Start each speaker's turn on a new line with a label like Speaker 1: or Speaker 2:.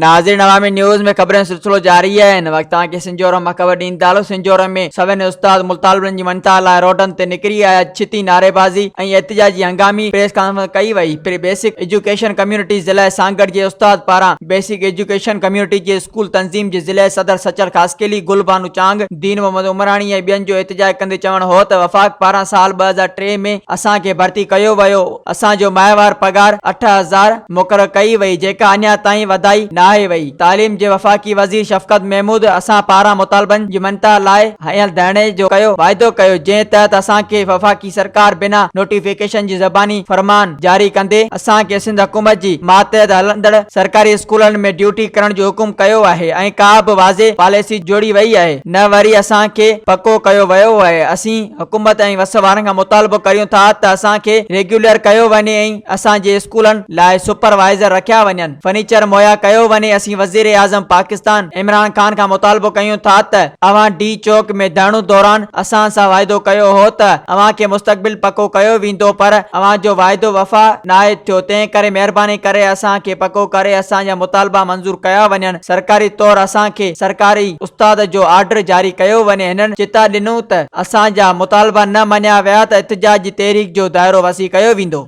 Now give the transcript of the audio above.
Speaker 1: ناظرين عوامي نيوز ۾ خبرن سلسلو جاري آهي هن وقت توهان کي سنجورم مان خبر ڏيندالو سنجورم ۾ سوين استاد مطالبن جي مڃتا لاء روڊن تي نڪري آيا ڇتي نعريبازي ۽ احتجاجي هنگامي پريس ڪانفرنس ڪئي وئي پري بيسڪ ايجوڪيشن ڪميونٽي ضلع سانگهڙ جي استاد پاران بيسڪ ايجوڪيشن ڪميونٽي جي اسڪول تنظيم جي ضلعي صدر سچل خاصخيلي، گل بانو چانگ، دين محمد عمراڻي ۽ ٻين جو احتجاج ڪندي چوڻ هو ته وفاق پاران سال ٻه هزار ٽي ۾ اسان کي ڀرتي ڪيو ويو اسان جو ماهوار پگهار اٺ هزار مقرر ڪئي وئي جيڪا اڃا تائين وڌائي ناهي وئي تعليم جي وفاقي وزير شفقت محمود اسان پاران مطالبن جي مڃتا لاء هنيل ڌرڻي جو ڪيو واعدو ڪيو جنهن تحت اسان کي وفاقي سرڪار بنا نوٽيفڪيشن جي زباني فرمان جاري ڪندي اسان کي سنڌ حڪومت جي ماتحت هلندڙ سرڪاري اسڪولن ۾ ڊيوٽي ڪرڻ جو حڪم ڪيو آهي ۽ ڪا به واضح پاليسي جوڙي وئي آهي نه وري اسان کي پڪو ڪيو ويو آهي اسين حڪومت ۽ وس وارن کان مطالبو ڪريون ٿا ته اسان کي ريگيولر ڪيو وڃي ۽ اسان جي اسڪولن لاء سپروائيزر رکيا وڃن. فرنيچر مهيا ڪيو وڃي اسين وزيراعظم پاڪستان عمران خان کان مطالبو ڪيون ٿا ته اوهان ڊي چوڪ ۾ ڌرڻو دوران اسان سان واعدو ڪيو هو ته اوهان کي مستقبل پڪو ڪيو ويندو پر اوهان جو واعدو وفا ناهي ٿيو تنهن ڪري مهرباني ڪري اسان کي پڪو ڪري اسان جا مطالبا منظور ڪيا وڃن سرڪاري طور اسان کي سرڪاري استاد جو آرڊر جاري ڪيو وڃي هنن چتاء ڏنو ته اسان جا مطالبا نه مڃيا ويا ته احتجاج جي تحريڪ جو دائرو وسيع ڪيو ويندو.